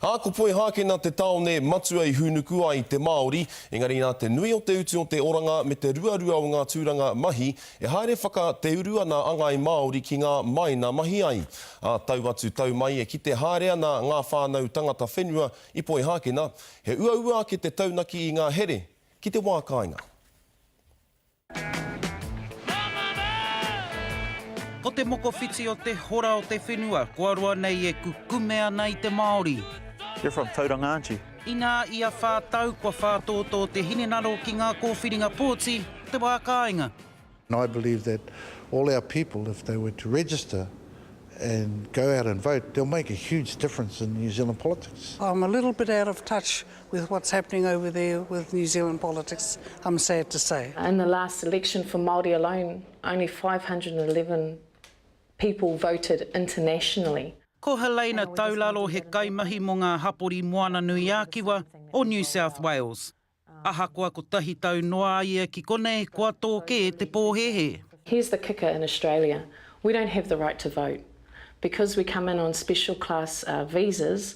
Ā, ko Poihākena te tāone matua i hūnuku ai te Māori, engari nā te nui o te utu o te oranga me te ruarua o ngā tūranga mahi, e haere whaka te uru ana a ngāi Māori ki ngā māina mahi ai. Ā, tau atu tau mai e kite haere ana ngā whānau tangata whenua i Poihākena, he uaua ake te taunaki i ngā here ki te wā kāinga. Ko te mokowhiti o te hora o te whenua kua roa nei e kukume ana i te Māori. You're from Tauranga aren't you? Inā ia whā tau kua whātōtō te hinengaro ki ngā kōwhiringa pōti o te wā kāinga. I believe that all our people if they were to register and go out and vote they'll make a huge difference in New Zealand politics. I'm a little bit out of touch with what's happening over there with New Zealand politics, I'm sad to say. In the last election for Māori alone, only five hundred and eleven people voted internationally. Ko Helena Taularo he kaimahi mō ngā hapori Moana-nui-ā-Kiwa o New South Wales. Ahakoa kotahi tau noa a ia ki konei, kua tō kē te pōhēhē. Here's the kicker in Australia, we don't have the right to vote. Because we come in on special class visas,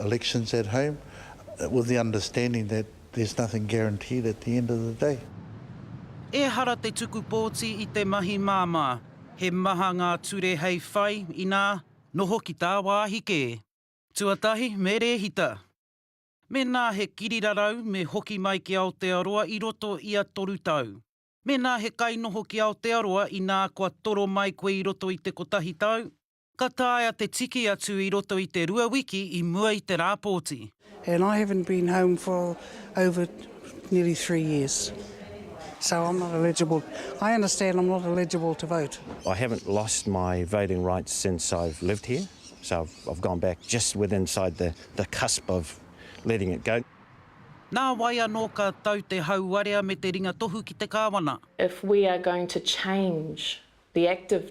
elections at home with the understanding that there's nothing guaranteed at the end of the day. Ehara te tuku pōti i te mahi māmā. He maha ngā ture hei whai, inā, noho ki tāwāhi kē. Tuatahi, me rēhita. Mēnā he kirirarau, me hoki mai ki Aotearoa i roto i a toru tau. Mēnā he kainoho ki Aotearoa, inā kua toro mai koe i roto i te kotahi tau, Ka taea te tiki atu i roto i te rua wiki i mua i te rā pōti. And I haven't been home for over nearly three years, so I'm not eligible. I understand I'm not eligible to vote. I haven't lost my voting rights since I've lived here, so I've gone back just with inside the the cusp of letting it go. Nā wai anō ka tau te hauwarea me te ringatohu ki te Kāwana? If we are going to change the active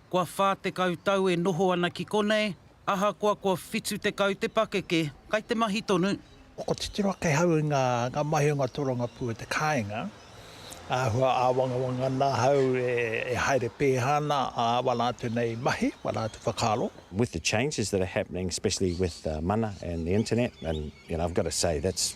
Kua 40 tau e noho ana ki konei, ahakoa kua 70 te pakeke, kai te mahi tonu. Ko titiro ake ahau i ngā mahi o ngā tōrangapū o te kāinga, āhua āwangawanga ana ahau e haere pēhā ana āwa rātou nei mahi, wā rātou whakaaro. With the changes that are happening, especially with mana and the internet, and you know, I've got to say that's